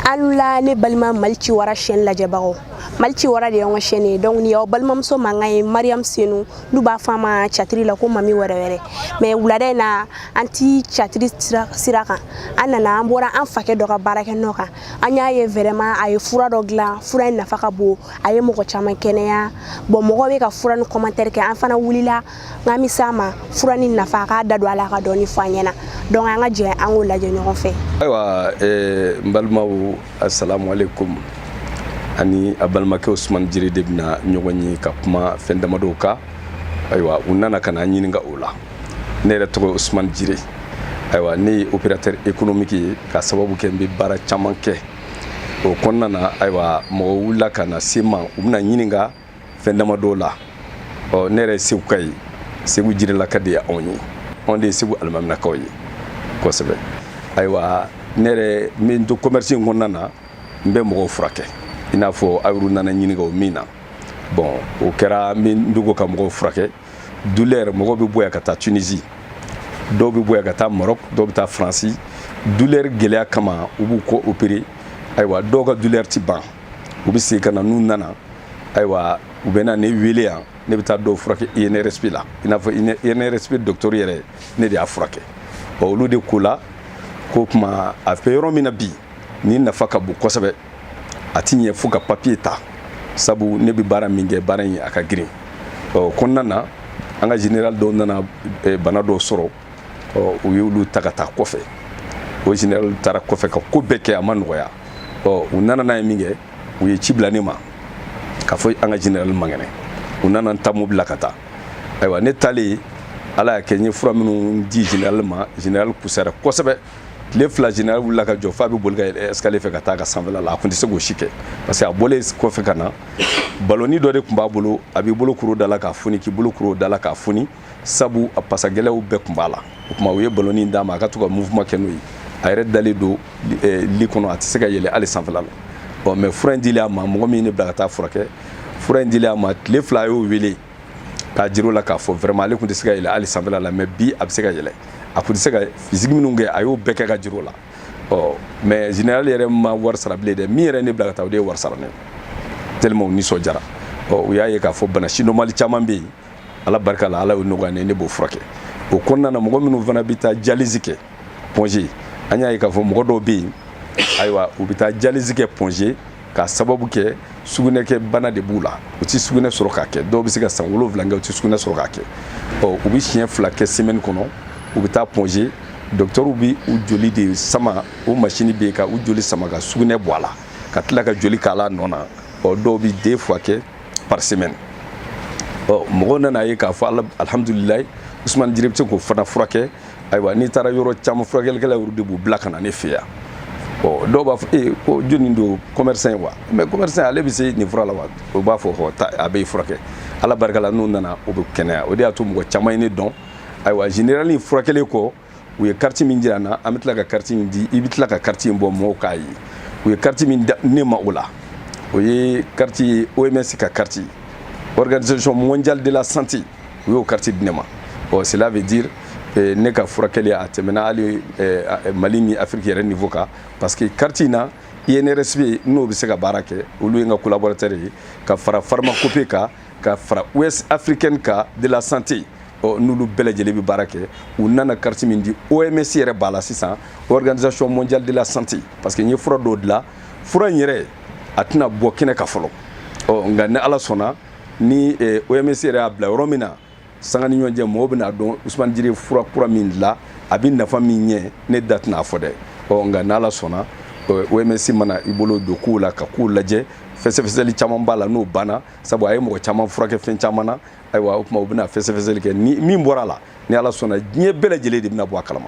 aw ni wula ne balima mali ciwara chaîne lajɛbagaw mali ciwara de y'an ka chaîne ye donc nin y'aw balimamuso mankan ye mariam senu n'u b'a fɔ a ma catiri la ko mami wɛrɛ wɛrɛ mais wulada in na an ti catiri sira kan an nana an bɔra an fakɛ dɔ ka baara kɛ nɔ kan an y'a ye vraiment a ye fura dɔ dilan fura in nafa ka bon a ye mɔgɔ caman kɛnɛya bon mɔgɔ bɛ ka fura nin commentaire kɛ an fana wulila n k'an bi se a ma fura nin nafa a k'a da don a la ka dɔɔni fɔ an ɲɛna donc an ka jɛ an k'o lajɛ ɲɔgɔn fɛ ayiwa eh, n balimaw assalamu alaikum ani a balimakɛ usumani jire de bɛna ɲɔgɔn ye ka kuma fɛn damadɔw kan ayiwa u nana ka na an ɲininka o la ne yɛrɛ tɔgɔ ye usumani jire ayiwa ne ye opérateur économique ye ka sababu kɛ n bɛ baara caman kɛ o kɔnɔna na ayiwa mɔgɔ wulila ka na se n ma u bɛna ɲininka fɛn damadɔw la ɔ ne yɛrɛ seguka ye segu jirelaka de ye anw ye anw de ye segu alimaminakaw ye kosɛbɛ ayiwa ne yɛrɛ n bɛ to commerce in kɔnɔna na n bɛ mɔgɔw furakɛ i n'a fɔ aw yɛrɛ nana n ɲininka ko min na bon o kɛra n bɛ dogo ka mɔgɔw furakɛ douleur mɔgɔw bɛ bɔ yan ka taa tunisi dɔw bɛ bɔ yan ka taa marɔk dɔw bɛ taa faransi douleur gɛlɛya kama u b'u kɔ opérer ayiwa dɔw ka douleur ti ban u bɛ segin ka na n'u nana ayiwa u bɛ na ne wele yan ne bɛ taa dɔw furakɛ INRSP la i n'a fɔ INRSP docteur yɛrɛ ne de y'a furakɛ ɔ olu de ko la ko kuma a bɛ yɔrɔ min na bi nin nafa ka bon kosɛbɛ a ti ɲɛ fo ka papiye ta sabu ne bɛ baara min kɛ baara in a ka girin o kɔnɔna na an ka général dɔw nana bana dɔw sɔrɔ ɔ u y'olu ta ka taa kɔfɛ ɔ général taara kɔfɛ ka ko bɛɛ kɛ a ma nɔgɔya ɔ u nana n'a ye min kɛ u ye ci bila ne ma k'a fɔ an ka général man kɛnɛ u nana n ta mobili la ka taa ayiwa ne taalen ala y'a kɛ n ye fura minnu di général ma général kusara kosɛbɛ tile fila général wulila ka jɔ f'a bɛ boli ka yɛlɛ escalier fɛ ka taa a ka sanfɛla la a tun tɛ se k'o si kɛ parce que a bɔlen kɔfɛ ka na balɔni dɔ de tun b'a bolo a b'i bolo kuru da la k'a foni k'i bolo kuru da la k'a foni sabu a pasagɛlɛw bɛɛ tun b'a la o tuma u ye balɔni d'a ma a ka to ka mouvement kɛ n'o ye a yɛrɛ dalen don eh, li kɔnɔ a tɛ se ka yɛlɛ hali sanfɛla la ɔ mais fura in dilen a ma mɔgɔ min ne bila ka taa furakɛ fura in dilen a ma tile fila a y'o wele k'a jir'o la k'a fɔ vraiment ale tun tɛ se ka yɛlɛ hali sanfɛla la mais bi a bɛ se ka yɛlɛ a tun tɛ se ka fizigi minnu kɛ a y'o bɛɛ kɛ ka jir'o la ɔ mais général yɛrɛ ma wari sara bilen dɛ min yɛrɛ ne bila ka taa o de ye wari sara ne tellement u nisɔndiyara ɔ u y'a ye k'a fɔ bana sidɔnbali caman bɛ yen ala barika la ala y'o nɔgɔya ne ne b'o furakɛ o kɔnɔna na mɔgɔ minnu fana bɛ taa dialyse kɛ pɔnze an y'a ye k'a fɔ mɔgɔ dɔw bɛ yen ayiwa u bɛ taa dialyse kɛ pɔnze k'a sababu kɛ sugunɛkɛ bana de b'u la u tɛ sugunɛ sɔrɔ k'a kɛ dɔw bɛ se ka san wolonwula kɛ u tɛ sugunɛ sɔrɔ k'a kɛ ɔ u bɛ siɲɛ fila kɛ semɛni kɔnɔ u bɛ taa pɔnze dɔkitɛriw bɛ u joli de sama o masini bɛ yen ka u joli sama ka sugunɛ bɔ a la ka tila ka joli k'a la nɔ na ɔ dɔw bɛ deux fois kɛ par semaine ɔ mɔgɔw nana a ye k'a fɔ alihamudulilayi usumani jire bɛ se k'o fana furakɛ ayiwa n'i taara yɔrɔ caman furakɛlikɛla yɛrɛ de b'u bila ka na ne fɛ yan ɔ dɔw b'a fɔ ee ko joni don commerçant ye wa mais commerçant ale bɛ se nin fura la wa o b'a fɔ hɔ taa a bɛ furakɛ ala barika la n'u nana u bɛ kɛnɛya o de y'a to mɔgɔ caman ye ne dɔn ayiwa generali furakɛli ko u ye kariti min jira n na an bɛ tila ka kariti in di i bɛ tila ka kariti in bɔ mɔgɔw k'a ye u ye kariti min di ne ma o la o ye kariti ye oms ka kariti organisation mondiale de la santé u y'o kariti di ne ma ɔ cela veut dire eh, ne ka furakɛli a tɛmɛna hali eh, eh, mali ni afiriki yɛrɛ niveau kan parce que kariti in na inrsp n'o bɛ se ka baara kɛ olu ye n ka collaborateur ye ka fara pharmacopée kan ka fara ouest africaine ka de la santé ɔ n'olu bɛɛ lajɛlen bɛ baara kɛ u nana kariti min di oms yɛrɛ b'a la sisan organisation mondiale de la santé parce que n ye fura dɔw dilan fura in yɛrɛ a tɛna bɔ kɛnɛ kan fɔlɔ ɔ nka ni ala sɔnna ni oms yɛrɛ y'a bila yɔrɔ min na sanga ni ɲɔgɔn cɛ mɔgɔw bɛn'a dɔn usumani jire fura kura min dilan a bɛ nafa min ɲɛ ne da tɛna a fɔ dɛ ɔ nka n'ala sɔnna oms mana i bolo don kow la ka kow lajɛ fɛsɛfɛsɛli caman b'a la n'o banna sabu a ye mɔgɔ caman furakɛ fɛn caman na ayiwa o tuma u bɛna fɛsɛfɛsɛli kɛ ni min bɔra a la ni ala sɔnna diɲɛ bɛɛ lajɛlen de bɛna bɔ a kalama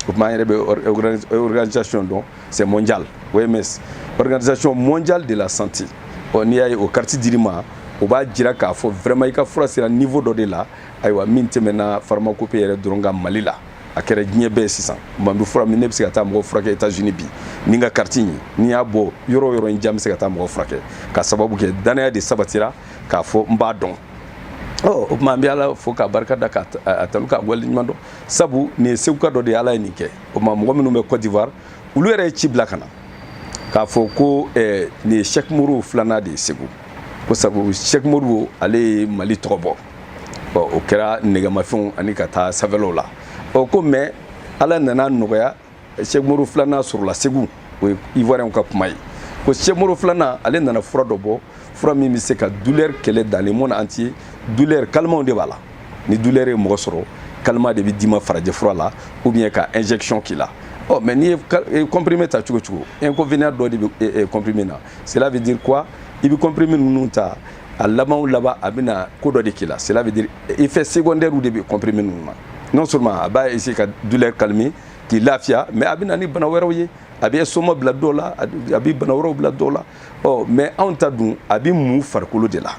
o tuma an yɛrɛ bɛ organisation dɔn c'est mondial OMS organisation mondiale de la santé ɔ n'i y'a ye o kariti dir'i ma o b'a jira k'a fɔ vraiment i ka fura sera niveau dɔ de la ayiwa min tɛmɛna pharmacopée yɛrɛ dɔrɔn kan mali la a kɛra diɲɛ bɛɛ sisan man bɛ fura min ne bɛ se ka taa mɔgɔ furakɛ États-Unis bi ni n ka kariti ye n'i y'a bɔ yɔrɔ o yɔrɔ in jan bɛ se ka taa mɔgɔ furakɛ k'a sababu kɛ danaya de sabatira k'a fɔ n b'a dɔn o tuma an bɛ ala fo k'a barika da k'a tanu k'a waleɲuman dɔn sabu nin ye seguka dɔ de ye ala ye nin kɛ o tuma mɔgɔ minnu bɛ côte d'ivoire olu yɛrɛ ye ci bila ka na k'a fɔ ko eh, nin ye sɛki modibo filanan de ye segu ko sabu sɛki modibo ale ye mali tɔgɔ bɔ bon o kɛra nɛgɛmafɛnw ani ka taa sanfɛlaw la ɔ ko mais ala nana nɔgɔya sɛki modibo filanan sɔrɔla segu o ye ivoirienw ka kuma ye ko sɛki modibo filanan ale nana fura dɔ bɔ fura min bɛ se ka douleur kɛlɛ dans le monde entier douleur calmant de b'a la ni douleur ye mɔgɔ sɔrɔ calmant de bɛ d'i ma farajɛ fura la ou bien ka injection k'i la ɔ mais n'i ye comprimé ta cogo cogo inconvénient dɔ de bɛ comprimé na cela veut dire quoi i bɛ comprimé ninnu ta a laban o laban a bɛna ko dɔ de k'i la cela veut dire effet secondaire de bɛ comprimé ninnu na non seulement a b'a essayer ka douleur calmer k'i lafiya mais a bɛ na ni bana wɛrɛw ye a bɛ estomac bila dɔw la a bɛ bana wɛrɛw bila dɔw la ɔ mais anw ta dun a bɛ mun farikolo de la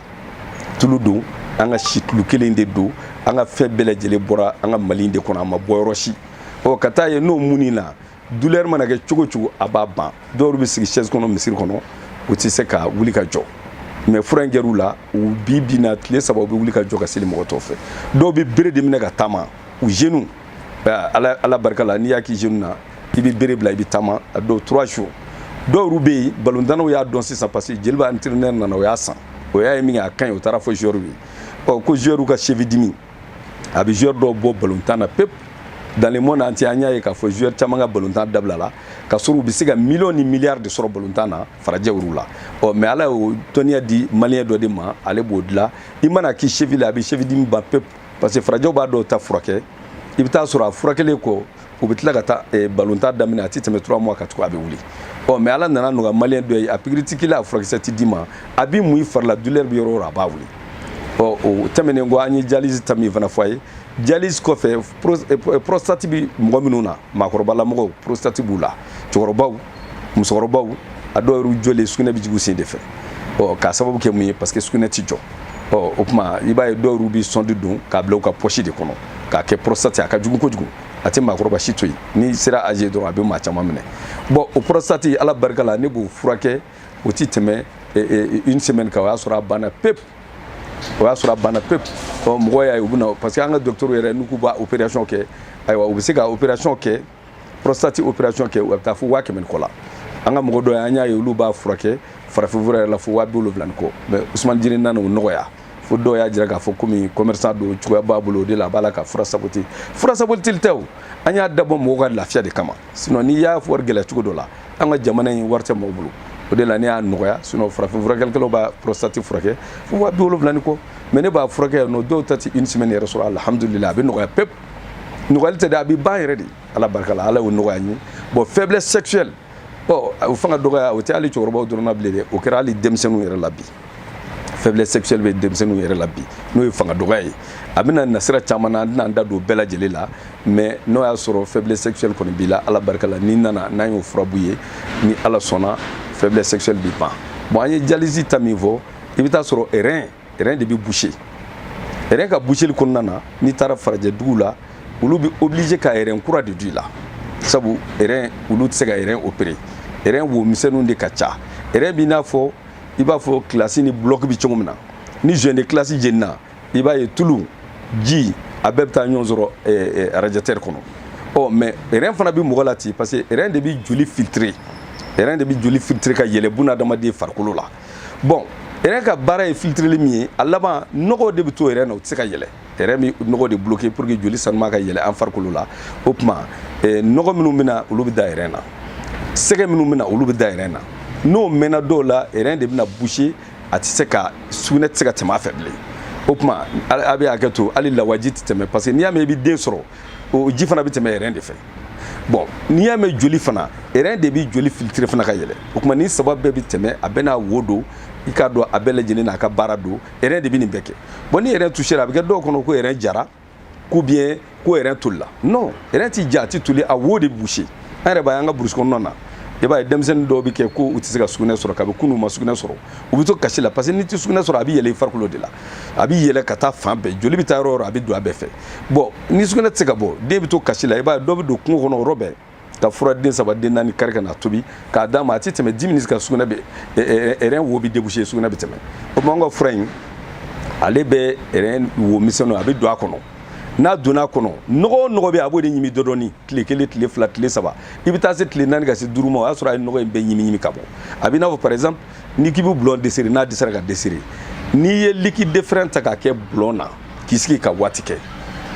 tulu don an ka situlu kelen de don an ka fɛn bɛɛ lajɛlen bɔra an ka mali de kɔnɔ a ma bɔ yɔrɔ si ɔ ka taa ye n'o munn'i la douleur mana kɛ cogo cogo a b'a ban dɔw bɛ sigi chaise kɔnɔ misiri kɔnɔ u tɛ se ka wuli ka jɔ mais fura in kɛr'u la u bi bi na tile saba u bɛ wuli ka jɔ ka seli mɔgɔ tɔw fɛ dɔw bɛ bere de minɛ ka taama u genou ala barika la n'i y'a k'i genou na i bɛ bere bila i bɛ taama a dɔw trois jours dɔw yɛrɛ bɛ yen balontannaw y'a dɔn sisan parce que jeliba entraîneur nana o y'a san o y'a ye min kɛ a ka ɲi o taara fɔ joueur ye ɔ ko joueur ka cheville dimi a bɛ joueur dɔw bɔ balontan na pepu dans le monde entier an y'a ye k'a fɔ joueur caman ka balontan dabila la ka sɔrɔ u bɛ se ka miliyɔn ni miliyari de sɔrɔ balontan na farajɛw la ɔ mais ala y'o dɔnniya di maliyɛn dɔ de ma ale b'o dilan i man'a k'i cheville la a bɛ cheville dimi ban pepu parce que farajɛw b'a dɔw ta furakɛ i bɛ taa sɔrɔ a furakɛlen kɔ u bɛ tila ka taa eh, balontan daminɛ a tɛ tɛmɛ trois mois kan tugu a bɛ wuli ɔ mais ala nan'a nɔgɔya maliyɛn dɔ ye a pikiri ti k'i la a furakisɛ ti d'i ma a bi mun i fari la douleur bɛ yɔrɔ o yɔrɔ a b'a wuli ɔ o tɛmɛnen kɔ an ye dialyse ta min fana fɔ a ye dialyse kɔfɛ eh, eh, prostate bi mɔgɔ minnu na maakɔrɔbalamɔgɔw prostate b'u la cɛkɔrɔbaw musokɔrɔbaw a dɔw yɛrɛ jɔlen sugunɛ bɛ jigin u sen de fɛ ɔ k'a sababu kɛ mun ye parce que sugunɛ tɛ jɔ ɔ o tuma i b'a ye dɔw yɛrɛ bɛ sɔndi don k'a bila u ka poche de kɔnɔ k'a kɛ prostate a ka jugu kojugu a tɛ maakɔrɔba si to yen n'i sera âge dɔrɔn a bɛ maa caman minɛ bon o prostate ala barika la ne b'o furakɛ o tɛ tɛmɛ eh, eh, une semaine kan o y'a sɔrɔ a banna pepu o y'a sɔrɔ a banna pepu ɔ mɔgɔ y'a ye u bɛ na parce que an ka dɔgɔtɔrɔw yɛrɛ n'u k'u b'a opération kɛ ayiwa u bɛ se ka opération kɛ prostate opération kɛ u bɛ taa fo waa kɛmɛ ni kɔ la an ka mɔgɔ dɔ ye an y'a ye olu b'a furakɛ farafinfura yɛrɛ la fo waa bi wolonwula ni kɔ mais usumani jire nana o nɔgɔya fo dɔw y'a jira k'a fɔ komi commerçant don cogoya b'a bolo o de la a b'a la ka fura saboti fura sabotili tɛ o an y'a dabɔ mɔgɔw ka lafiya de kama sinon n'i y'a wari gɛlɛya cogo dɔ la an ka jamana in wari tɛ mɔgɔw bolo o de la ne y'a nɔgɔya sinon farafin furakɛlikɛlaw b'a prostate furakɛ fo waa bi wolonwula ni kɔ mais ne b'a furakɛ yan nɔ dɔw ta tɛ une semaine yɛrɛ sɔrɔ alhamdulillah a bɛ nɔgɔya pep nɔgɔyali tɛ dɛ a bɛ ban yɛrɛ de ala barika la ala y'o nɔgɔya n ye bon faiblesse sexuelle ɔ o fanga dɔgɔya o tɛ hali cɛkɔrɔbaw dɔrɔn na bilen dɛ o kɛra hali denmisɛnninw yɛrɛ la bi faiblesse sexuelle bɛ denmisɛnninw yɛrɛ la bi n'o ye fanga dɔgɔya ye a bɛ na nasira caman na an tɛna an da don bɛɛ lajɛlen la mais n'o y'a sɔrɔ faiblesse sexuelle kɔni b'i la ala barika la n'i nana n'an y'o fura b'i ye ni ala sɔnna faiblesse sexuelle bɛ ban bon an ye dialyse ta min fɔ i bɛ taa sɔrɔ rein rɛn de bɛ boucher rɛn ka boucheli kɔnɔna na n'i taara farajɛ dugu la olu bɛ obligé ka rɛn kura de don i la sabu rɛn olu tɛ se ka rɛn opérer rɛn wo misɛnninw de ka ca rɛn b'i n'a fɔ i b'a fɔ kilasi ni bulɔki bɛ cogo min na ni joint de kilasi jenina i b'a ye tulu ji a bɛɛ bɛ taa ɲɔgɔn sɔrɔ arajɛtɛri kɔnɔ ɔ mais rɛn fana bɛ mɔgɔ la ten parce que rɛn de bɛ joli filtrer rɛn de bɛ joli filtrer ka yɛlɛ bunadamaden farikolo la bon rɛn ka baara ye filitirili min ye a laban nɔgɔ de bɛ to rɛn na o tɛ se ka yɛlɛ rɛn bɛ nɔgɔ de bloquer pour que joli sanuman ka yɛlɛ an farikolo la o tuma eh, nɔgɔ minnu bɛ na olu bɛ da rɛn na sɛgɛ minnu bɛ na olu bɛ da rɛn na n'o mɛnna dɔw la rɛn de bɛna boucher a tɛ se ka sugunɛ tɛ se ka tɛmɛ a fɛ bilen o tuma a bɛ a kɛ to hali lawaji tɛ tɛmɛ parce que n'i y'a mɛn i bɛ den sɔrɔ o ji fana bɛ tɛmɛ rɛn de fɛ bon n'i y'a mɛn joli fana erɛn de bɛ joli filitire fana ka yɛlɛ o tuma nin saba bɛɛ bɛ tɛmɛ a bɛɛ n'a wo don i k'a dɔn a bɛɛ lajɛlen n'a ka baara don erɛn de bɛ nin bɛɛ kɛ bon ni erɛn tusera a bɛ kɛ dɔw kɔnɔ ko erɛn jara ou bien ko erɛn tolila non erɛn ti ja a ti toli a wo de bɛ boucher an yɛrɛ b'a ye an ka burusi kɔnɔna na i b'a ye denmisɛnnin dɔw bɛ kɛ ko u tɛ se ka sugunɛ sɔrɔ kabi kunun u ma sugunɛ sɔrɔ u bɛ to kasi la parce que n'i tɛ sugunɛ sɔrɔ a bɛ yɛlɛ i farikolo de la a bɛ yɛlɛ ka taa fan bɛɛ joli bɛ taa yɔrɔ o yɔrɔ a bɛ don a bɛɛ fɛ bon ni sugunɛ tɛ se ka bɔ den bɛ to kasi la i b'a ye dɔ bɛ don kungo kɔnɔ o yɔrɔ bɛɛ ka fura den saba den naani kari ka na tobi k'a d'a ma a tɛ tɛmɛ dix minutes ka sugunɛ bɛ ɛrɛn wo bɛ déboucher sugunɛ bɛ tɛmɛ o tuma an ka fura in ale bɛ ɛrɛn wo misɛnninw a bɛ don a kɔnɔ n'a donna a kɔnɔ nɔgɔ o nɔgɔ bɛ yen a b'o de ɲimi dɔɔndɔɔni tile kelen tile fila tile saba i bɛ taa se tile naani ka se duuru ma o y'a sɔrɔ a ye nɔgɔ in bɛɛ ɲimi ɲimi ka bɔ a bɛ i n'a fɔ par exemple n'i k'i bɛ bulɔn desserrer n'a dɛsɛra ka desserrer n'i ye liquide de frein ta k'a kɛ bulɔn na k'i sigi ka waati kɛ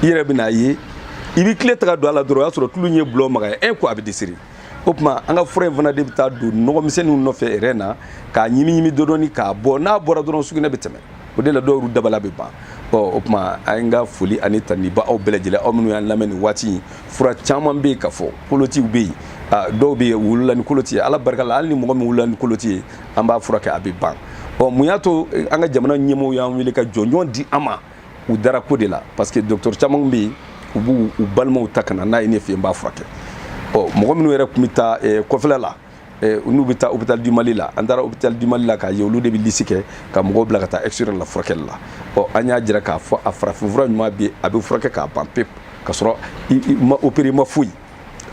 i yɛrɛ bɛn'a ye i bɛ kile ta ka don a la dɔrɔn o y'a sɔrɔ tulu in ye bulɔn magaya ko a bɛ desserrer o tuma an ka fura in fana de bɛ taa don nɔgɔmisɛnninw nɔfɛ ɛrɛn na k'a ɲimi ɲimi dɔɔni k'a bɔ n'a bɔra dɔrɔn sugunɛ bɛ tɛmɛ o de la dɔw y'u dabala bɛ ban ɔ o tuma an ka foli ani tanuni b'aw bɛɛ lajɛlen aw minnu y'an lamɛn nin waati in fura caman bɛ yen ka fɔ kolotiw bɛ yen dɔw bɛ yen u wulila ni koloti ye ala barika la hali ni mɔgɔ min wulila ni koloti ye an b'a furakɛ a bɛ ban ɔ mun y'a to eh, an ka jamana ɲɛmɔgɔw y'an wele ka jɔnjɔn di an ma u dara ko de la parce que docteur caman bɛ yen u b'u balimaw ta ka na n'a ye ne fɛ yen n b'a furakɛ ɔ mɔgɔ minnu yɛrɛ tun bɛ taa eh, kɔfɛla la eh, n'u bɛ taa hôpital du mali la an taara hôpital du mali la k'a ye olu de bɛ lisi kɛ ka mɔgɔw bila ka taa extérieur la furakɛli la ɔ an y'a jira k'a fɔ a farafinfura ɲuman bɛ yen a bɛ furakɛ k'a ban pewu k'a sɔrɔ i ma opérer ma foyi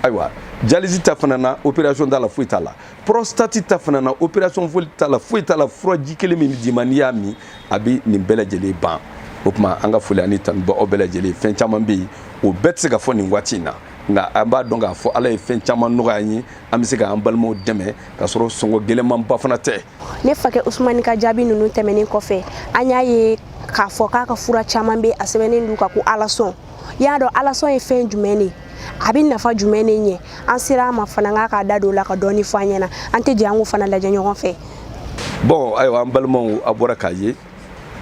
ayiwa dialyse t'a fana na opération t'a la foyi t'a la prostate ta fana na opération foyi t'a la foyi t'a la furaji kelen min d'i ma n'i y'a min a bɛ nin bɛɛ lajɛlen ban o tuma an ka foli ani tanu b'aw bɛɛ lajɛlen ye fɛn caman bɛ yen o bɛɛ tɛ se ka fɔ nin waati in na nka an b'a dɔn k'a fɔ ala ye fɛn caman nɔgɔya an ye an bɛ se k'an balimaw dɛmɛ ka sɔrɔ sɔngɔ gɛlɛnmanba fana tɛ ne fakɛ usumani ka jaabi ninnu tɛmɛnen kɔfɛ an y'a ye k'a fɔ k'a ka fura caman bɛ a sɛbɛnnen don ka ko alasɔn i y'a dɔn alasɔn ye fɛn jumɛn de ye a bɛ nafa jumɛn de ɲɛ an sera a ma fana k'a k'a da don o la ka dɔɔni fɔ an ɲɛna an tɛ jɛ an k'o fana lajɛ ɲɔgɔn fɛ bon ayiwa an balimaw a bɔra k'a ye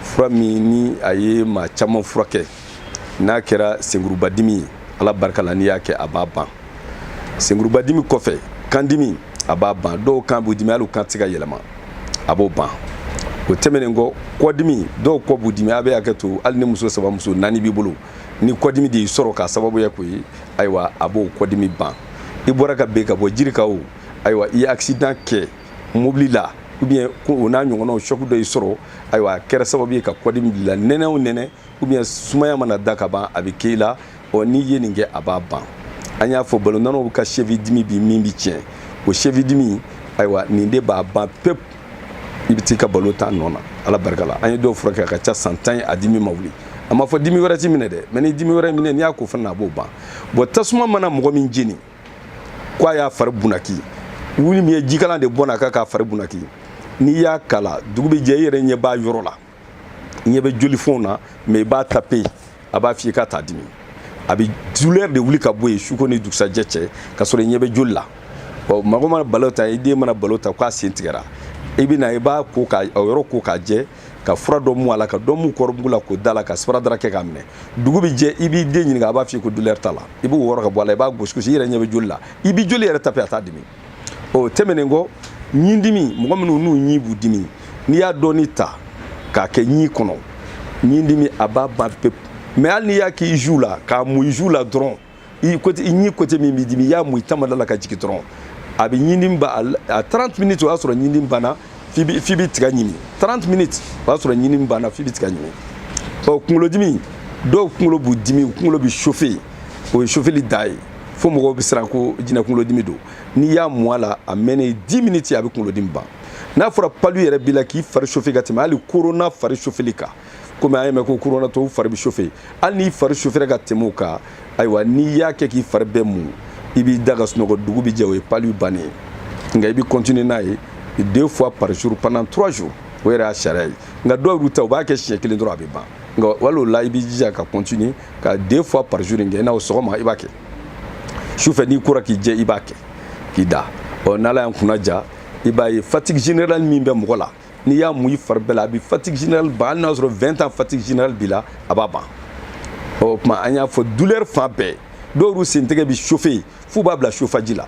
fura min ni a ye maa caman furakɛ n'a kɛra senkurubadimi ye ala barika la n'i y'a kɛ a b'a ban senkurubadimi kɔfɛ kandimi a b'a ban dɔw kan b'u dimi hali u kan tɛ se ka yɛlɛma a b'o ban o tɛmɛnen kɔ kɔdimi dɔw kɔ b'u dimi a bɛ hakɛ to hali ni muso saba muso naani b'i bolo ni kɔdimi de y'i sɔrɔ k'a sababuya k'o ye ayiwa a b'o kɔdimi ban i bɔra ka ben ka bɔ jiri kan o ayiwa i ye accident kɛ mobili la ou bien ko o n'a ɲɔgɔnnaw choc dɔ y'i sɔrɔ ayiwa a kɛra sababu ye ka kɔdimi bila nɛnɛ o nɛnɛ ou bien sumaya mana da ka ban a bɛ k'i la ɔ n'i ye nin kɛ a b'a ban an y'a fɔ balontannaw ka cheville dimi bi min bi tiɲɛ o cheville dimi ayiwa nin de b'a ban pewu i bɛ t'i ka balon tan nɔ na ala barika la an ye dɔw furakɛ a ka ca san tan ye a dimi ma wuli a ma fɔ dimi wɛrɛ t'i minɛ dɛ mais ni dimi wɛrɛ minɛ n'i y'a ko fana a b'o ban bon tasuma mana mɔgɔ min jeni ko a y'a fari bunaki wuli min ye jikalan de bɔnna a kan k'a fari bunaki n'i y'a k'a la dugu bɛ jɛ i yɛrɛ ɲɛ b'a yɔrɔ la ɲɛ bɛ jolifɔnw na mais i b'a tape a b'a f'i ye k'a t'a dimi a bɛ douleur de wuli ka bɔ yen su ko ni dugusajɛ cɛ ka sɔrɔ i ɲɛ bɛ joli la ɔ mɔgɔ mana balon tan i den mana balon tan k'a sen tigɛra i bɛ na i b'a ko k'a yɔrɔ ko k'a jɛ ka fura dɔ mu a la ka dɔ mu kɔɔrimugu la k'o d'a la ka sparadrap kɛ k'a minɛ dugu bɛ jɛ i b'i den ɲininka a b'a f'i ye ko douleur t'a la i b'o wɔrɔ ka bɔ a la i b'a gosi gosi i yɛrɛ ɲɛ bɛ joli la i bɛ joli yɛrɛ tape a t'a dimi o tɛmɛnen kɔ ɲin dimi mɔgɔ minnu n'u ɲin b'u dimi n'i y'a dɔɔni ta k'a kɛ ɲin kɔnɔ ɲin dimi a b'a ban pewu mais hali n'i y'a k'i joue la k'a mu i joue la dɔrɔn i côté i ɲin côté min b'i dimi i y'a mu i tamada la ka jigin dɔrɔn a bɛ ɲin dimi ban a 30 minutes o y'a sɔrɔ ɲin dimi banna f'i bi f'i bi tiga ɲimi 30 minutes o y'a sɔrɔ ɲin dimi banna f'i bi tiga ɲimi ɔ kunkolodimi dɔw kunkolo b'u dimi u kunkolo bi chauffe o ye chauffeli dan ye fo mɔgɔw bɛ siran ko jinɛ kunkolodimi don n'i y'a mu a la a mɛnnen 10 minutes a bɛ kunkolodimi ban n'a fɔra palu yɛrɛ b'i la k'i fari chauffe ka tɛmɛ hali corona fari chauffeli kan komi an y'a mɛn ko koronatɔw fari bɛ sofe hali n'i fari sofera ka tɛmɛ o kan ayiwa n'i y'a kɛ k'i fari bɛɛ mun i b'i da ka sunɔgɔ dugu bɛ jɛ o ye palu bannen ye nka i bɛ kɔntine n'a ye deux fois par jour pendant trois jours o yɛrɛ y'a sariya ye nka dɔw yɛrɛ ta u b'a kɛ siɲɛ kelen dɔrɔn a bɛ ban nka wali o la i b'i jija ka kɔntine ka deux fois par jour in kɛ i n'a fɔ sɔgɔma i b'a kɛ sufɛ n'i kora k'i jɛ i b'a kɛ k'i da ɔ n'ala y'an kunna ja i b'a ye fatigue générale min bɛ mɔgɔ la n'i y'a mun i fari bɛɛ la a bɛ fatigue générale ban hali n'a sɔrɔ 20 ans fatigue générale b'i la a b'a ban o tuma an y'a fɔ douleur fan bɛɛ dɔw yɛrɛ sen tɛgɛ bi chauffer f'u b'a bila chauffage la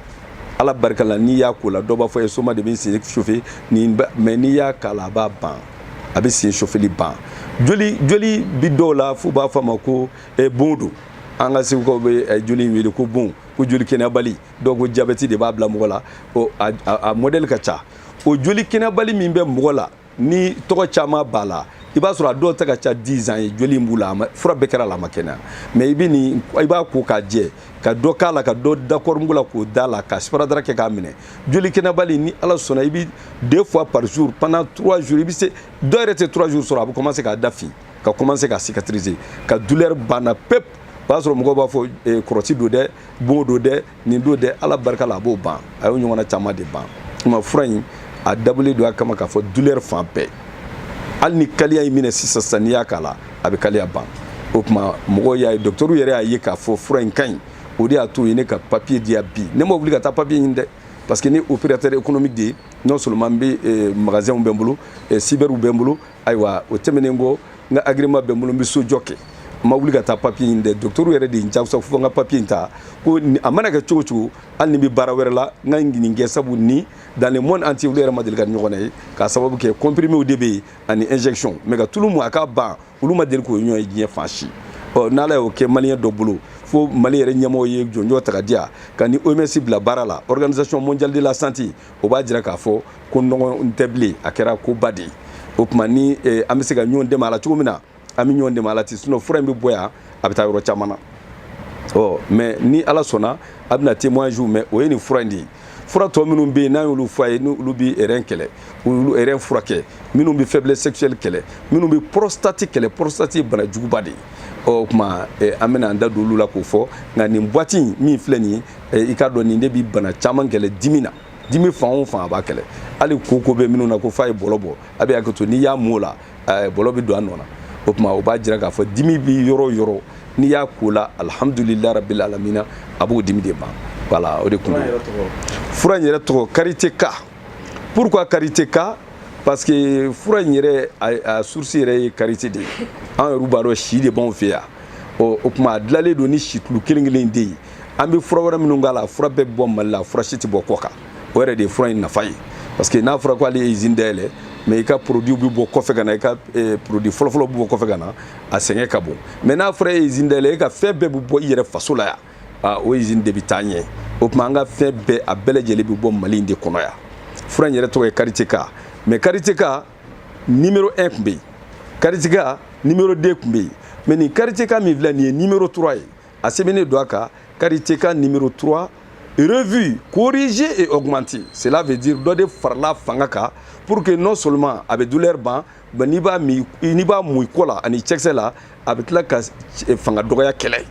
ala barika la n'i y'a ko la dɔw b'a fɔ ye soma de bɛ n sen chauffer nin mais n'i y'a k'a la a b'a ban a bɛ sen chauffeli ban joli joli bi dɔw la f'u b'a fɔ a ma ko eh, bon don an ka segukaw bɛ eh, joli in wele ko bon ko joli kɛnɛyabali dɔw ko jabɛti de b'a bila mɔgɔ la a modɛli ka ca o joli kɛnɛyabali min bɛ mɔgɔ la ni tɔgɔ caman b'a la i b'a sɔrɔ a dɔw ta ka ca dix ans ye joli in b'u la fura bɛɛ kɛr'a la a ma kɛnɛya mais i bɛ nin i b'a ko k'a jɛ ka dɔ k'a la ka dɔ da kɔɔrimugu la k'o d'a la ka siparadara kɛ k'a minɛ joli kɛnɛyabali ni ala sɔnna i bɛ deux fois par jour pendant trois jours i bɛ se dɔ yɛrɛ tɛ trois jours sɔrɔ a bɛ commencer k'a da fin ka commencer ka cicatriser ka douleur banna pep o b'a sɔrɔ mɔgɔw b'a fɔ kɔrɔti don dɛ bon don dɛ nin don dɛ ala barika la a b'o ban a y'o ɲɔgɔnna caman de ban tuma fura in a dabɔlen don a kama k'a fɔ douleur fan bɛɛ hali ni kaliya y'i minɛ sisan sisan n'i y'a k'a la a bɛ kaliya ban o tuma mɔgɔw y'a ye docteurw yɛrɛ y'a ye k'a fɔ fura in ka ɲi o de y'a to u ye ne ka papiye di yan bi ne ma wuli ka taa papiye ɲini dɛ parce que n ye opérateur économique de ye non seulement n bɛ eh, magasinw bɛ n bolo eh, cyberw bɛ n bolo ayiwa o tɛmɛnen kɔ n ka agrément bɛ n bolo n bɛ sojɔ kɛ n ma wuli ka taa papiye ɲini dɛ dɔgɔtɔrɔ yɛrɛ de ye n jagoya fo n ka papiye in ta ko a mana kɛ cogo cogo hali ni n bɛ baara wɛrɛ la n ka nin kɛ sabu ni dans le monde entier olu yɛrɛ ma deli k'a ɲɔgɔn ye k'a sababu kɛ comprimés de bɛ yen ani injection mais ka tulu mun a ka ban olu ma deli k'o ɲɔgɔn ye diɲɛ fan si ɔ n'ala y'o kɛ maliyɛn dɔ bolo fo mali yɛrɛ ɲɛmɔgɔ ye jɔnjɔn ta k'a di yan ka n ni oms bila baara la organisation mondiale de la santé o b'a jira k'a fɔ ko nɔgɔn tɛ bilen a kɛra koba de ye o tuma ni eh, an bɛ se ka ɲɔgɔn dɛmɛ a la cogo min na an bɛ ɲɔgɔn dɛmɛ a la ten sinon fura in bɛ bɔ yan a bɛ taa yɔrɔ caman na ɔ mais ni ala sɔnna a bɛna témoignage mɛn o ye nin fura in de ye fura tɔ minnu bɛ yen n'an y'olu fɔ a ye n'olu bɛ rein kɛlɛ olu rein furakɛ minnu bɛ faiblesse sexuelle kɛlɛ minnu bɛ prostate kɛlɛ prostate ye bana juguba de ye ɔ o tuma eh, an bɛna an da don olu la k'o fɔ nka nin boîte in min filɛ nin ye i k'a dɔn nin de bi bana caman kɛlɛ dimi na dimi fan o fan a b'a kɛlɛ hali koko bɛ minnu na ko f'a ye bɔlɔ bɔ a bɛ hakɛ to n'i y'a mun o la bɔlɔ bɛ don a nɔ na o tuma o b'a jira k'a fɔ dimi bɛ yɔrɔ o yɔrɔ n'i y'a k'o la alihamudulila rabila alamina a b'o dimi de ban voilà o de kun ye fura in yɛrɛ tɔgɔ karite ka pourquoi karite ka parce que fura in yɛrɛ a source yɛrɛ ye karite de ye an yɛrɛ b'a dɔn si de b'anw fɛ yan ɔ o tuma a dilanlen don ni situlu kelen kelen de ye an bɛ fura wɛrɛ minnu k'a la fura bɛɛ bɛ bɔ mali la fura si tɛ bɔ kɔkan o yɛrɛ de ye fura in nafa ye parce que n'a fɔra ko ale ye izini dayɛlɛ mɛ i ka produit bɛ bɔ kɔfɛ ka na i ka eh, produit fɔlɔfɔlɔ bɛ bɔ kɔfɛ ka na a sɛgɛn ka bon mɛ n'a fɔra e ye izini dayɛlɛ e ka fɛn bɛɛ bɛ bɔ i yɛrɛ faso la yan ah, o izini de bɛ taa ɲɛ o tuma an ka fɛn bɛɛ a bɛɛ lajɛlen bɛ bɔ mali in de kɔnɔ yan fura in yɛrɛ tɔgɔ ye kariteka mɛ kariteka nimero 1 tun bɛ yen kariteka nimero 2 tun bɛ yen mɛ nin kariteka min filɛ nin ye nimero 3 ye a sɛbɛnnen don a kan kariteka nimero 3 revu corrigé et augmenté cela veut dire dɔ de farala fanga kan pour que non seulement a bɛ douleur ban mais n'i b'a min n'i b'a mun i kɔ la ani cɛkisɛ la a bɛ tila ka fanga dɔgɔya kɛlɛ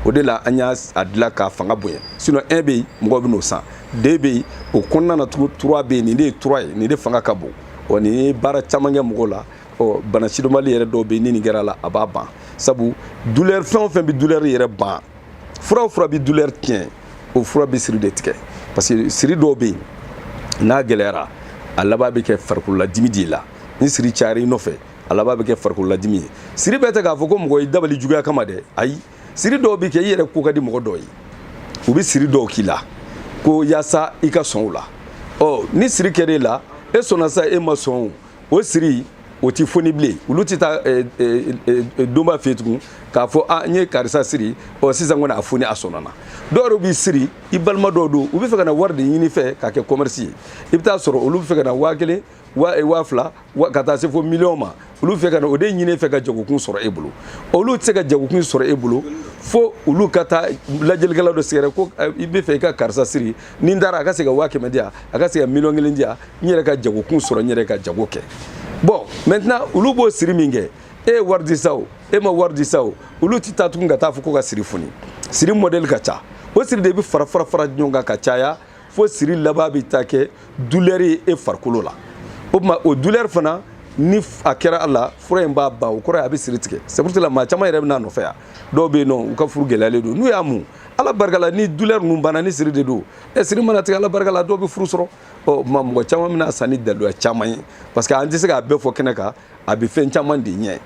o de la an y'a dilan k'a fanga bonya sinon un bɛ yen mɔgɔw bɛ n'o san deux bɛ yen o kɔnɔna na tugun trois bɛ yen nin de ye trois ye nin de fanga ka bon wa nin ye baara caman kɛ mɔgɔw la ɔ bana sidɔnbali yɛrɛ dɔw bɛ yen ni nin kɛra a la a b'a ban sabu douleur fɛn o fɛn bɛ douleur yɛrɛ ban fura o fura bɛ douleur tiɲɛ o fura bɛ siri de tigɛ parce que siri dɔw bɛ yen n'a gɛlɛyara a laban bɛ kɛ farikololadimi de la ni siri cayara i nɔfɛ a laban bɛ kɛ farikololadimi ye siri bɛɛ tɛ k'a fɔ ko mɔgɔ y'i dabali juguya kama dɛ ayi siri dɔw bɛ kɛ i yɛrɛ ko ka di mɔgɔ dɔw ye u bɛ siri dɔw k'i la ko yaasa i ka sɔn o la ɔ ni siri kɛra e la e sɔnna sa e ma sɔn o o siri o ti foni bilen olu ti taa eh, eh, eh, doma fɛ tugun k'a fɔ a ah, n ye karisa siri ɔ sisan kɔni a foni a sɔnna dɔw yɛrɛ b'i siri i balima dɔw don u bɛ fɛ ka na wari de ɲini i fɛ k'a kɛ kɔmɛrisi ye i bɛ taa sɔrɔ olu bɛ fɛ ka na waa kelen waa fila ka taa se fo miliyɔn ma olu fɛ ka na o de ɲini i fɛ ka jagokun sɔrɔ e bolo olu tɛ se ka jagokun sɔrɔ e bolo fo olu ka taa lajɛlikɛla dɔ sɛgɛrɛ ko i bɛ fɛ i ka karisa siri ni n taara a ka se ka waa kɛmɛ di yan a ka se ka miliyɔn kelen di yan n yɛrɛ ka jagokun sɔrɔ n yɛrɛ ka jago kɛ bɔn mɛntenan olu b'o siri min kɛ e ye wari di sa o e ma wari di sa o olu tɛ taa tugun ka taa fɔ ko ka siri foni siri mɔdɛli ka ca o siri de bɛ fara fara fara ɲɔgɔn kan ka caya fo siri laban bɛ taa kɛ dulɛri ye e farikolo la o tuma o dulɛri fana ni a kɛra a la fura in b'a ban o kɔrɔ ye a bɛ siri tigɛ c'est pour cela maa caman yɛrɛ bɛ n'a nɔfɛ yan dɔw bɛ yen ɔ u ka furu gɛlɛyalen don n'u y'a mun ala barika la ni douleur ninnu banna ni siri de don ɛ siri mana tigɛ ala barika la dɔw bɛ furu sɔrɔ ɔ ma mɔgɔ caman bɛ n'a san ni daluya caman ye parce que an tɛ se k'a bɛɛ fɔ kɛnɛ kan a bɛ fɛn caman de ɲɛ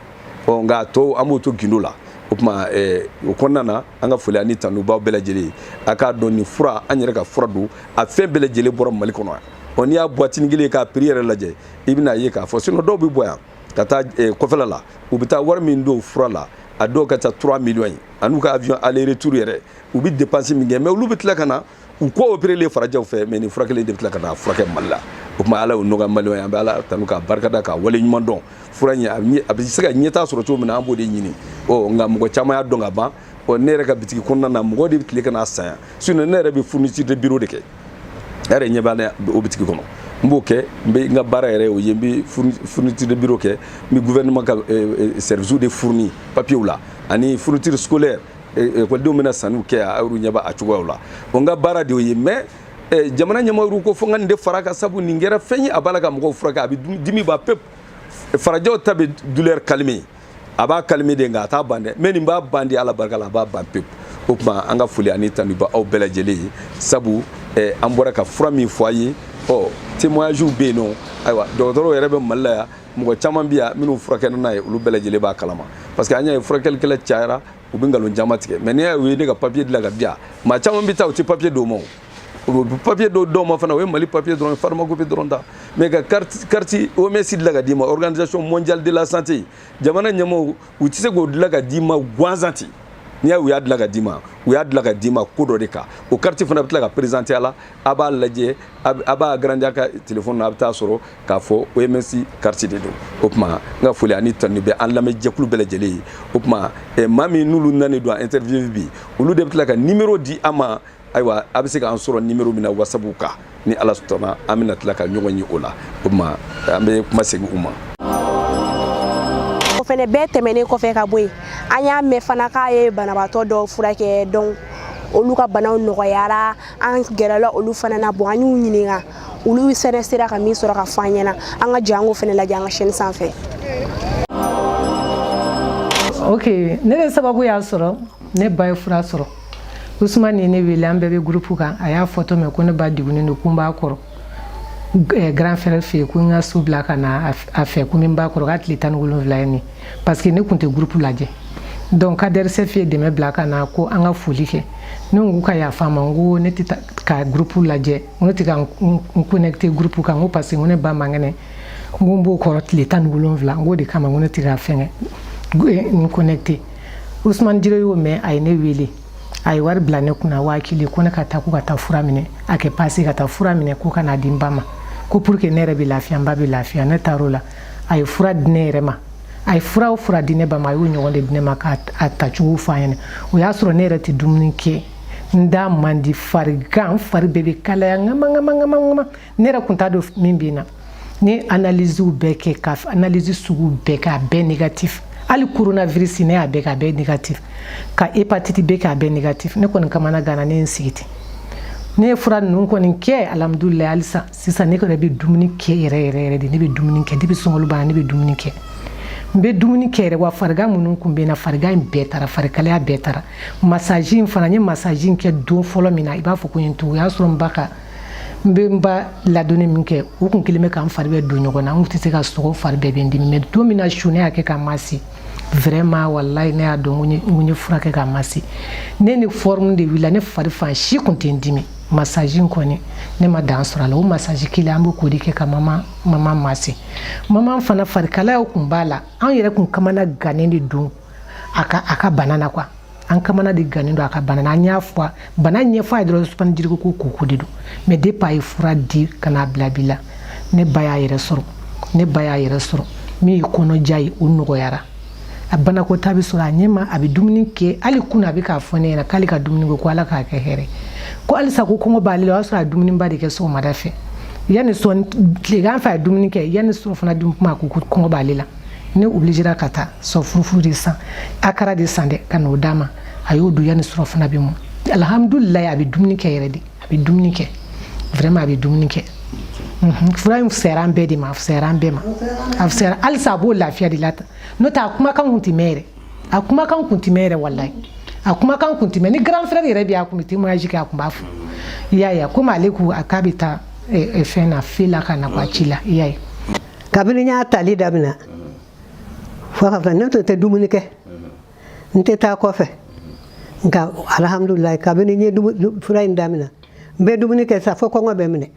ɔ nka a tɔ an b'o to gindo la o tuma ɛɛ o kɔnɔna na an ka foli ani tanu b'aw bɛɛ lajɛlen ye a k'a dɔn nin fura an yɛrɛ ka fura don a fɛn bɛɛ lajɛlen bɔra mali kɔnɔ yan ɔ n'i y'a buwatini kelen ye k'a prix yɛrɛ lajɛ i bɛn'a ye k'a fɔ sinon dɔw bɛ bɔ yan ka taa eh, kɔfɛla la u bɛ taa wari min don fura la a dɔw ka ca 3 millions ye an'u ka avion aller retour yɛrɛ u bɛ dépense min kɛ mais olu bɛ tila ka na u kɔ opérélen farajɛw fɛ mais nin fura kelen de bɛ tila ka na furakɛ mali la o tuma ala y'o nɔgɔya maliyɛnw ye an bɛ ala tanu k'a barikada k'a wale ɲuman dɔn fura in a bɛ se ka ɲɛtaa sɔrɔ cogo min na an b'o de ɲini ɔ nka mɔgɔ caman y'a dɔn ka ban ɔ ne yɛrɛ ka bitigi kɔnɔna na mɔgɔ de bɛ tila ka n'a san yan sinon ne yɛrɛ bɛ fourniture de bureau de kɛ e yɛrɛ ɲɛ b'a la o bitigi kɔnɔ n b'o kɛ n bɛ n ka baara yɛrɛ o ye n bɛ fourniture de bureau kɛ n bɛ gouvernement ka service de fourni papiers la ani fourniture scolaire ekɔlidenw bɛ na sanniw kɛ yan aw ɲɛ b'a cogoyaw la o n ka baara de y'o ye mais jamana ɲɛmɔgɔw ko fo n ka nin de far'a kan sabu nin kɛra fɛn ye a b'a la ka mɔgɔw furakɛ a bɛ dimi ban pewu farajɛw ta bɛ douleur calmer a b'a calmer de nka a t'a ban dɛ mais nin b'a ban de ala barika la a b'a ban pewu o tuma an ka foli ani tanu b'aw bɛɛ lajɛlen ye sabu eh, an bɔra ka fura min fɔ a ye ɔ témoignage bɛ yen nɔ ayiwa dɔgɔtɔrɔw yɛrɛ bɛ mali la yan mɔgɔ caman bɛ yan minnu furakɛlen n'a ye olu bɛɛ lajɛlen b'a kalama parce que an y'a ye furakɛlikɛla cayara u bɛ nkalon caman tigɛ mais n'i y'a ye u ye ne ka papier dilan ka di yan maa caman bɛ taa u tɛ papier d'o ma o papier dɔw dɔw ma fana o ye mali papier dɔrɔn pharmacopée dɔrɔn ta mais ka carte OMS dilan ka d'i ma organisation mondiale de la santé jamana ɲɛmɔgɔw u tɛ se k'o dilan ka d'i ma gansan ten n'i y'a ye u y'a dilan ka d'i ma u y'a dilan ka d'i ma ko dɔ de kan o carte fana bɛ tila k'a présenter a la a b'a lajɛ a b'a agrandi a ka telefɔni na a bɛ taa sɔrɔ k'a fɔ OMS carte de don o tuma n ka foli ani tanu bɛ an lamɛnjɛkulu bɛɛ lajɛlen ye o tuma maa min n'olu nanen don an interview bi olu de bɛ tila ka numéro di an ma ayiwa a bɛ se k'an sɔrɔ numéro min na WhatsApp kan ni ala sɔnna an bɛna tila ka ɲɔgɔn ye o la o tuma an bɛ kuma segin u ma o fɛnɛ bɛɛ tɛmɛnen kɔfɛ ka bɔ yen an y'a mɛn fana k'a ye banabaatɔ dɔw furakɛ donc olu ka banaw nɔgɔyara an gɛrɛla olu fana na bon an y'u ɲininka olu fɛnɛ sera ka min sɔrɔ ka fɔ an ɲɛna an ka jɛ an k'o fɛnɛ lajɛ an ka chaîne sanfɛ ok ne de sababu y'a sɔrɔ ne ba ye fura sɔrɔ usman ye ne wele an bɛɛ bɛ gurupu kan a y'a fɔ to mɛn ko ne ba degunnen don ko n b'a kɔrɔ eh, grand frère fɛ yen ko n ka su bila ka na a fɛ ko n b'a kɔrɔ k'a tile tan ni wolonwula ye nin parce que ne tun tɛ gurupu lajɛ donc kadɛrisɛf ye dɛmɛ bila ka na ko an ka foli kɛ ne ko ka yafa n ma n ko ne tɛ ka gurupu lajɛ n ko ne tɛ ka n connecter gurupu kan n ko parce que n ko ne ba man kɛnɛ n ko n b'o kɔrɔ tile tan ni wolonwula n k'o de kama n ko ne tɛ ka fɛngɛ n connecter usman jire y'o mɛn a ye ne wele a ye wari bila ne kunna waa kelen ko ne ka taa ko ka taa fura minɛ a kɛ passe ka taa fura minɛ ko ka na di n ba ma ko pour que ne yɛrɛ bɛ lafiya n ba bɛ lafiya ne taar'o la a ye fura di ne yɛrɛ ma a ye fura o fura di ne ba ma a y'o ɲɔgɔn de di ne ma k'a tacogo fɔ an ɲɛna o y'a sɔrɔ ne yɛrɛ tɛ dumuni kɛ n da man di farigan fari bɛɛ bɛ kalaya ŋama ŋama ŋama ŋama ne yɛrɛ kun t'a dɔn min bɛ n na ne ye analysew bɛɛ kɛ ka analyse sugu bɛɛ kɛ a bɛɛ négatif hali coronavirus ne y'a bɛɛ kɛ a bɛɛ négatif ka hépatite B kɛ a bɛɛ négatif ne kɔni kamana ganna ne ye n sigi ten ne ye fura ninnu kɔni kɛ alhamdulilayi halisa sisan ne kɔni bɛ dumuni kɛ yɛrɛ yɛrɛ yɛrɛ de ne bɛ dumuni kɛ depuis sunkalo banna ne bɛ dumuni kɛ n bɛ dumuni kɛ yɛrɛ wa farigan minnu tun bɛ n na farigan in bɛɛ taara farikalaya bɛɛ taara massage in fana n ye massage in kɛ don fɔlɔ min na i b'a fɔ ko n ye n tugu o y'a sɔrɔ n ba ka n bɛ n ba ladonni min kɛ o kun kɛlen bɛ ka n fari bɛɛ don ɲɔgɔn na n tɛ se ka sogo fari bɛɛ bɛ n dimi mais don min na su ne y'a kɛ ka masser vraiment walayi ne y'a dɔn n ye fura kɛ ka masser ne ni forme de wulila ne fari fan si tun tɛ n dimi massage in kɔni ne ma dan sɔrɔ a la o massage kelen an bɛ k'o de kɛ ka mama mama masser mama fana farikalayaw tun b'a la an yɛrɛ tun kamana gannen de don a ka a ka bana na quoi an kamana de gannen don a ka bana na an y'a fɔ bana ɲɛfɔ a ye dɔrɔn usman jire ko ko koko de don mais depuis a ye fura di ka n'a bila bi la ne ba y'a yɛrɛ sɔrɔ ne ba y'a yɛrɛ sɔrɔ min ye kɔnɔja ye o nɔgɔyara a banakɔtaa bɛ sɔrɔ a ɲɛma a bɛ dumuni kɛ hali kunun a bɛ k'a fɔ ne ɲɛna k'ale ka dumuni ko ko ala k'a kɛ hɛrɛ ko halisa ko kɔngɔ b'ale la o y'a sɔrɔ a dumuniba de kɛ sɔgɔmada fɛ yanni sɔn tilegan fɛ a ye dumuni kɛ yanni surɔfana dun kuma ko ko kɔngɔ b'ale la ne obligera ka taa sɔ furufuru de san akara de san dɛ ka n'o d'a ma a y'o dun yanni surɔfana bɛ mɔ alihamudulilayi a bɛ dumuni kɛ yɛrɛ de a bɛ dumuni kɛ vraiment a bɛ dumuni kɛ mhm. fura in fisayara an bɛɛ de ma a fisayara an bɛɛ ma a fisayara halisa a b'o lafiya de la tan n'o tɛ a kumakan kun tɛ mɛn yɛrɛ a kumakan kun tɛ mɛn yɛrɛ walayi a kumakan kun tɛ mɛn ni grand frère yɛrɛ bɛ yen a kun bɛ témoignage kɛ a kun b'a fɔ i y'a ye komi ale ko a k'a bɛ taa eh, eh, fɛn na fe la ka na ko a ci la i y'a ye kabini n y'a tali damina fo ka fɔ ne tun tɛ dumuni kɛ n tɛ taa kɔfɛ nka alihamudulilayi kabini n ye fura in damina n bɛ dumuni kɛ sa fo kɔngɔ bɛ n minɛ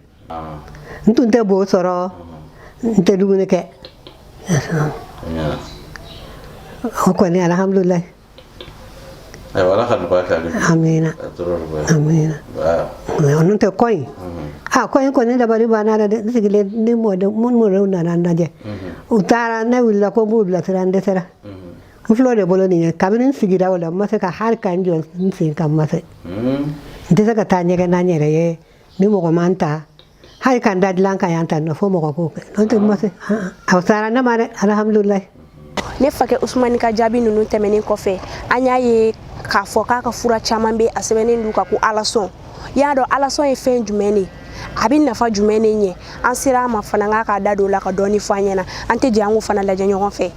n tun tɛ bo sɔrɔ n tɛ dumuni kɛ o kɔni alihamudulilayi n'o tɛ koyi a ko in kɔni dabali banna dɛ n sigilen ni mɔdenw nana n lajɛ u taara ne wulila ko n b'u bilasira n dɛsɛra n filɛ o de bolo nin ye kabini n sigira o la n ma se ka hali ka n jɔ n sen kan n ma se n tɛ se ka taa ɲɛgɛn na n yɛrɛ ye ni mɔgɔ ma n ta hali ka n da dilan kan yan ta nɔ fo mɔgɔ k'o kɛ n'o tɛ n ma se a fisayara ne ma dɛ alihamudulilayi ne fakɛ usumani ka jaabi ninnu tɛmɛnen kɔfɛ an y'a ye k'a fɔ k'a ka fura caman bɛ a sɛbɛnnen don u kan ko alasɔn y'a dɔn alasɔn ye fɛn jumɛn de a bɛ nafa jumɛn de ɲɛ an sera a ma fana k'a k'a da don o la ka dɔɔni fɔ an ɲɛna an tɛ jɛ an k'o fana lajɛ ɲɔgɔn fɛ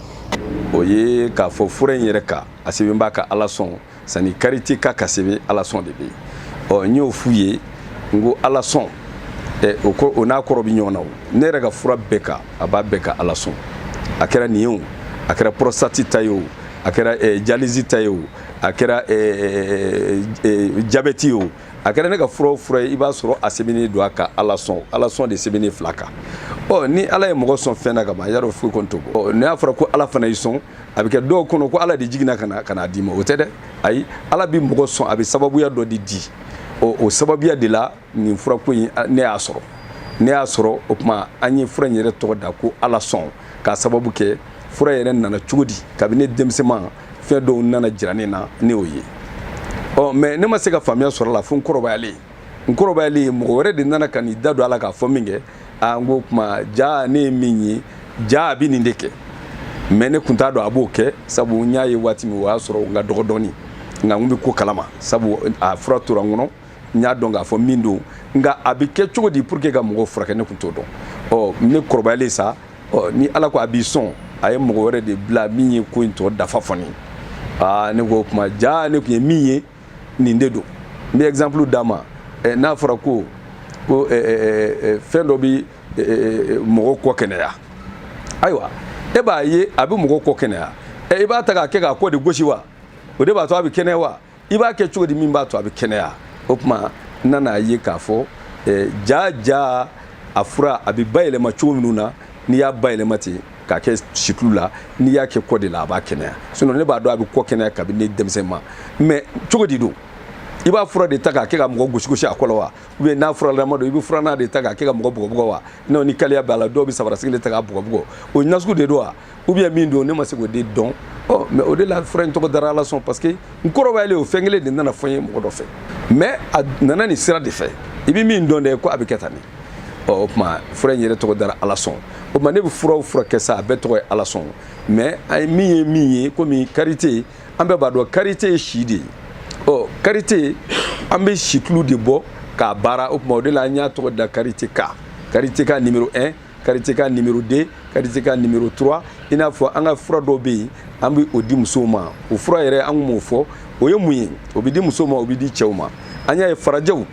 o ye k'a fɔ fura in yɛrɛ kan a sɛbɛn b'a kan alasɔn sani karite ka ka sɛbɛn alasɔn de bɛ yen ɔ n y'o f'u ye n ko alasɔn ɛ o ko o n'a kɔrɔ bɛ ɲɔgɔn na o ne yɛrɛ ka fura bɛɛ kan a b'a bɛɛ kan alasɔn a kɛra nin ye o a kɛra pɔrɔsitati ta ye o a kɛra ɛ jalizi ta ye o a kɛra ɛ ɛ jabɛti ye o a kɛra ne ka fura o fura ye i b'a sɔrɔ a sɛbɛnnen don a kan alasɔn alasɔn de sɛbɛnnen filɛ a kan ɔ ni ala ye mɔgɔ sɔn fɛn na ka ban i y'a dɔn foyi kɔni t'o bɔ ɔ n'a fɔra ko ala fana y'i sɔn a bɛ kɛ dɔw kɔnɔ ko ala de jiginna ka n'a d'i ma o tɛ dɛ ayi ala bɛ mɔgɔ sɔn a bɛ sababuya dɔ de di ɔ o sababuya de la nin furako in ne y'a sɔrɔ ne y'a sɔrɔ o tuma an ye fura in yɛrɛ tɔgɔ da ko alasɔn k'a sababu kɛ fura yɛrɛ nana cogo di kabini ne denmisɛnman fɛn dɔw nana jira ne na ne y'o ye ɔ mɛ ne ma se ka faamuya sɔrɔ a la fo n kɔrɔbayalen n kɔrɔbayalen ye mɔgɔ wɛrɛ de nana ka n'i da don a la k'a fɔ min kɛ aa n ko kuma ja ne ye min ye ja a bɛ nin de kɛ mɛ ne kun t'a dɔn a b'o kɛ sabu n y'a ye waati min o y'a sɔrɔ n ka dɔgɔ dɔɔni nka n bɛ ko kalama sabu a fura tora n kɔnɔ n y'a dɔn k'a fɔ min don nka a bɛ kɛ cogo di pour que ka mɔgɔw furakɛ ne kun t'o dɔn ɔ ne kɔrɔbayalen sa ɔ ni ala ko a b'i sɔn a ye mɔgɔ wɛrɛ de bila min ye ko in tɔ dafa fɔ ne ye aa ne ko o tuma ja ne kun ye min ye nin de don n bɛ exemple d'a ma eh, n'a fɔra ko ko eh, eh, fɛn dɔ bɛ mɔgɔ kɔ kɛnɛya ayiwa e b'a ye a bɛ mɔgɔ kɔ kɛnɛya i b'a ta k'a kɛ k'a kɔ de gosi wa o de b'a to a bɛ kɛnɛya wa i b'a kɛ cogo di min b'a to a bɛ kɛnɛya o tuma n nan'a ye k'a fɔ ja ja a fura a bɛ bayɛlɛma cogo minnu na n'i y'a bayɛlɛma ten k'a kɛ situlu la n'i y'a kɛ kɔ de la a b'a kɛnɛya sinɔn ne b'a dɔn a bɛ kɔ kɛnɛya kabini ne denmisɛnman mɛ cogo di don i b'a fura de ta k'a kɛ ka mɔgɔ gosigosi a kɔ la wa ou bien n'a furalama don i bɛ furannan de ta k'a kɛ ka mɔgɔ bugɔbugɔ wa n'o ni kaliya b'a la dɔw bɛ sabarasigi de ta k'a bugɔbugɔ o ye nasugu de don wa ou bien min don ne ma se k'o de dɔn ɔ mɛ o de la fura in tɔgɔ dara alasɔn parce que n kɔrɔbayalen o fɛn kelen de nana fɔ n ye mɔgɔ dɔ fɛ mɛ a nana nin sira de fɛ i bɛ min dɔn dɛ ko a bɛ kɛ tan nin ɔ o tuma fura in yɛrɛ tɔgɔ dara alasɔn o tuma ne bɛ fura o fura kɛ sa a bɛɛ tɔgɔ ye alasɔn mɛ an ye min ye min ye komi karite an bɛɛ b'a dɔn karite ye si de ye ɔ karite an bɛ situlu de bɔ k'a baara o tuma o de la an y'a tɔgɔ da karite ka karite ka nimero 1 karite ka nimero 2 karite ka nimero 3 i n'a fɔ an ka fura dɔw bɛ yen an bɛ o di musow ma o fura yɛrɛ an tun b'o fɔ o ye mun ye o bɛ di musow ma o bɛ di cɛw ma an y'a ye farajɛw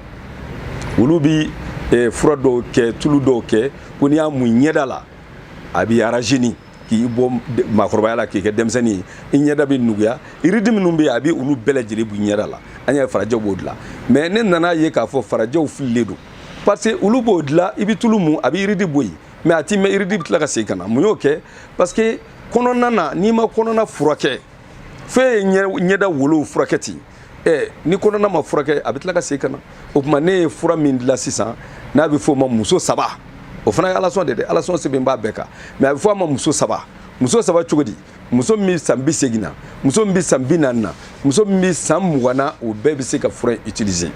olu bi eh, fura dɔw kɛ tulu dɔw kɛ ko n'i y'a mun i ɲɛda la a b'i rajeunir k'i bɔ maakɔrɔbaya la k'i kɛ denmisɛnnin ye i ɲɛda bɛ nuguya yiridi minnu bɛ yen a bɛ olu bɛɛ lajɛlen b'i ɲɛda la an y'a ye farajɛw b'o dilan mais ne nana ye k'a fɔ farajɛw fililen don parce que olu b'o dilan i bɛ tulu mun a bɛ yiridi bɔ yen mais a ti mɛn yiridi bɛ tila ka segin ka na mun y'o kɛ parce que kɔnɔna na n'i ma kɔnɔna furakɛ fo e ye ɲɛda wolow furakɛ ten ɛ ni kɔnɔna ma furakɛ a bɛ tila ka segin ka na o tuma ne ye fura min dilan sisan n'a bɛ f'o ma muso saba o fana ye alasɔn de dɛ alasɔn sɛbɛn b'a bɛɛ kan mais a bɛ fɔ a ma muso saba muso saba cogo di muso min bɛ san bi segin na muso min bɛ san bi naani na muso min bɛ san mugan na o bɛɛ bɛ se ka fura in utiliser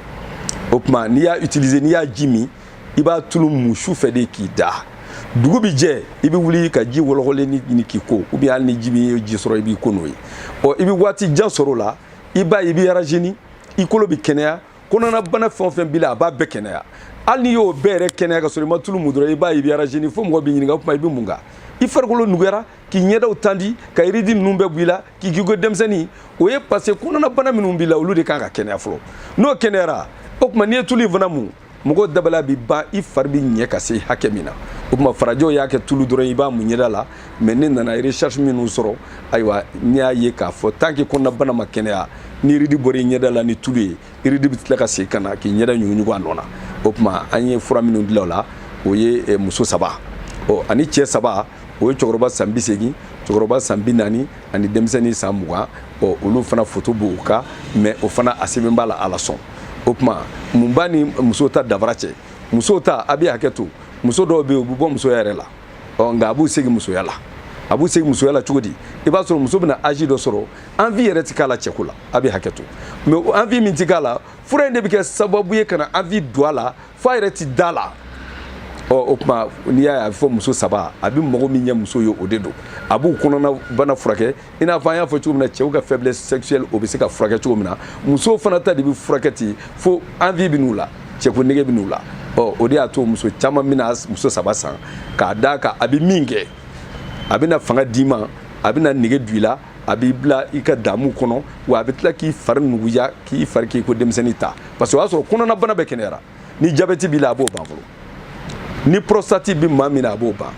o tuma n'i y'a utiliser n'i y'a ji min i b'a tulu mun su fɛ de k'i da dugu bɛ jɛ i bɛ wuli ka ji wɔlɔkɔlen ɲini k'i ko ou bien hali ni ji bɛ ji sɔrɔ i b'i ko n'o ye ɔ i bɛ waati jan sɔrɔ o la i b'a ye i bɛ rajeunir i kolo bɛ kɛnɛya kɔnɔnabana fɛn o fɛn b'i la a b'a bɛɛ kɛnɛya hali n'i y'o bɛɛ yɛrɛ kɛnɛya ka sɔrɔ i ma tulu mun dɔrɔn i b'a ye i bɛ rajeunir fo mɔgɔ b'i ɲininka o tuma i bɛ mun kan i farikolo nuguyara k'i ɲɛdaw tandi ka yiridi ninnu bɛɛ bɔ i la k'i k'i ko denmisɛnnin o ye parce que kɔnɔnabana minnu b'i la olu de kan ka kɛnɛya fɔlɔ n'o kɛnɛyara o tuma n'i ye tulu in fana mun mɔgɔ dabali bi ban i fari bi ɲɛ ka se hakɛ min na o tuma farajɛw y'a kɛ tulu dɔrɔn i b'a mun ɲɛda la mais ne nana recherche minnu sɔrɔ ayiwa ne y'a ye k'a fɔ tant que kɔnɔnabana ma kɛnɛya ni yiridi bɔra i ɲɛda la ni tulu ye yiridi bɛ tila ka segin ka na k'i ɲɛda ɲuguɲugu a nɔ na o tuma an ye fura minnu dilan o la o ye eh, muso saba ɔ ani cɛ saba o ye cɛkɔrɔba san bi segin cɛkɔrɔba san bi naani ani denmisɛnnin san mugan ɔ olu fana foto b'o kan mais o fana a sɛbɛn b'a la alasɔn o tuma mun b'a ni muso ta danfara cɛ muso ta a bɛ hakɛ to muso dɔw bɛ yen u bɛ bɔ musoya yɛrɛ la ɔ nka a b'u segin musoya la a b'u segin musoya la cogo di i b'a sɔrɔ muso bɛna âge dɔ sɔrɔ envie yɛrɛ ti k'a la cɛko la a bɛ hakɛ to mais envie min ti k'a la fura in de bɛ kɛ sababu ye ka na envie don a la fo a yɛrɛ ti da la ɔ o tuma n'i y'a ye a bɛ fɔ muso saba a bɛ mago min ɲɛ muso ye o de don a b'u kɔnɔna bana furakɛ i n'a fɔ an y'a fɔ cogo min na cɛw ka faiblesse sexuelle o bɛ se ka furakɛ cogo min na musow fana ta de bɛ furakɛ ten fo envie bɛ n'u la cɛko nege bɛ n'u la ɔ o de y'a to muso caman bɛna muso saba san k'a d'a kan a bɛ min kɛ a bɛna fanga d'i ma a bɛna nege don i la a b'i bila i ka damu kɔnɔ wa a bɛ tila k'i fari nuguya k'i fari k'i ko denmisɛnnin ta parce que o y'a sɔrɔ kɔnɔnabana bɛɛ kɛnɛyara ni jabɛti b'i la a b'o ban fɔlɔ ni prostate bɛ maa min na a b'o ban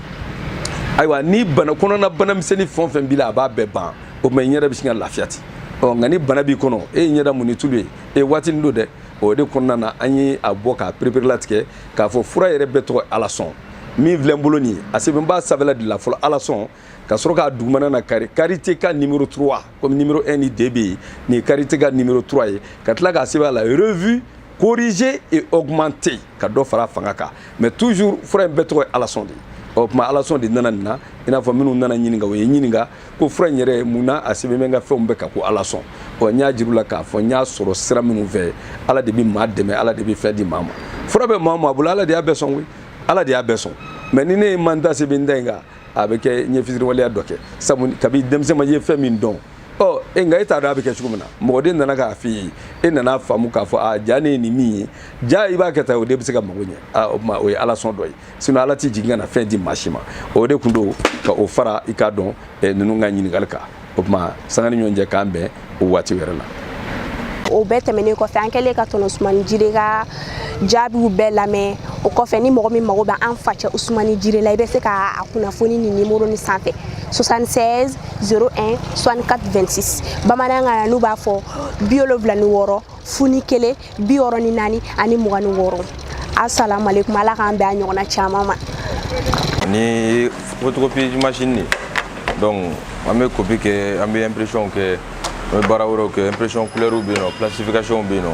ayiwa ni bana kɔnɔna bana misɛnnin fɛn o fɛn b'i la a b'a bɛɛ ban o tuma i ɲɛda bɛ sin ka lafiya ten ɔ nka ni bana b'i kɔnɔ e ye ɲɛda mun ni tulu ye e ye waatinin don dɛ o de kɔnɔna na an ye a bɔ k'a pereperelatigɛ k'a fɔ fura yɛrɛ bɛɛ tɔgɔ alasɔn min filɛ n bolo nin ye a sɛbɛn b'a sanfɛla de la fɔlɔ alasɔn ka sɔrɔ k'a dugumana na kari karite ka nimero 3 komi nimero 1 ni 2 bɛ yen nin ye karite ka nimero 3 ye ka tila k'a sɛbɛn a la revue corrigée et augmentée ka dɔ fara fanga kan mais toujours fura in bɛɛ tɔgɔ ye alasɔn de ye o tuma alasɔn de nana nin na i n'a fɔ minnu nana ɲininka o ye ɲininka ko fura in yɛrɛ mun na a sɛbɛn bɛ n ka fɛnw bɛɛ kan ko alasɔn ɔ n y'a jir'u la k'a fɔ n y'a sɔrɔ sira minnu fɛ ala de bɛ maa dɛmɛ ala de bɛ fɛn di maa ma fura bɛ maa o maa bolo ala de y'a bɛɛ sɔn koyi ala de y'a bɛɛ sɔn mais ni ne ye n man da sɛbɛn da in kan a bɛ kɛ n ye fisiriwaleya dɔ kɛ sabu kabi denmisɛnma ye fɛn min dɔn ɔ e nka e t'a dɔn a bɛ kɛ cogo min na mɔgɔ de nana k'a f'i ye e nana faamu k'a fɔ a ja ne ye nin min ye ja i b'a kɛ tan o de bɛ se ka mago ɲɛ o tuma o ye ala sɔn dɔ ye sinɔn ala tɛ jigin ka na fɛn di maa si ma o de tun don ka o fara i k'a dɔn ninnu ka ɲininkali kan o tuma sanga ni ɲɔgɔn cɛ k'an bɛn o waati wɛrɛ la o bɛɛ tɛmɛnen kɔfɛ an kɛlen ka tɔnɔ usumani jire ka jaabiw bɛɛ lamɛn o kɔfɛ ni mɔgɔ min mago bɛ an facɛ usumani jire la i bɛ se ka a kunnafoni nin nimoro nin sanfɛ 76 01 64 26 bamanankan na n'u b'a fɔ bi wolonwula ni wɔɔrɔ fu ni kelen bi wɔɔrɔ ni naani ani mugan ni wɔɔrɔ asalamu aleykum ala k'an bɛn a ɲɔgɔnna caman ma ni photocopie machine nin donc an bɛ kopi kɛ an bɛ impression kɛ an bɛ baara wɛrɛw kɛ impression couleurs bɛ yen nɔ plastification bɛ yen nɔ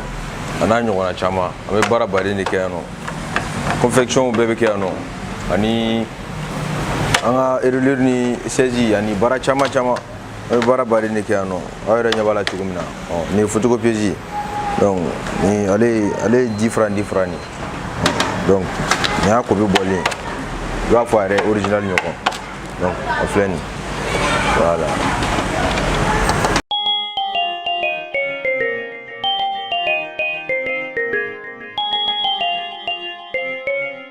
a n'a ɲɔgɔnna caman an bɛ baara baden de kɛ yan nɔ confection bɛɛ bɛ kɛ yan nɔ ani an ka reliure ni saisie ani baara caman caman an bɛ baara baden de kɛ yan nɔ aw yɛrɛ ɲɛ b'a la cogo min na nin ye photocopieuse donc ni ale ye ale ye 10 francs 10 francs nin donc nin y'a kopi bɔlen i b'a fɔ a yɛrɛ original ɲɔgɔn donc a filɛ nin voilà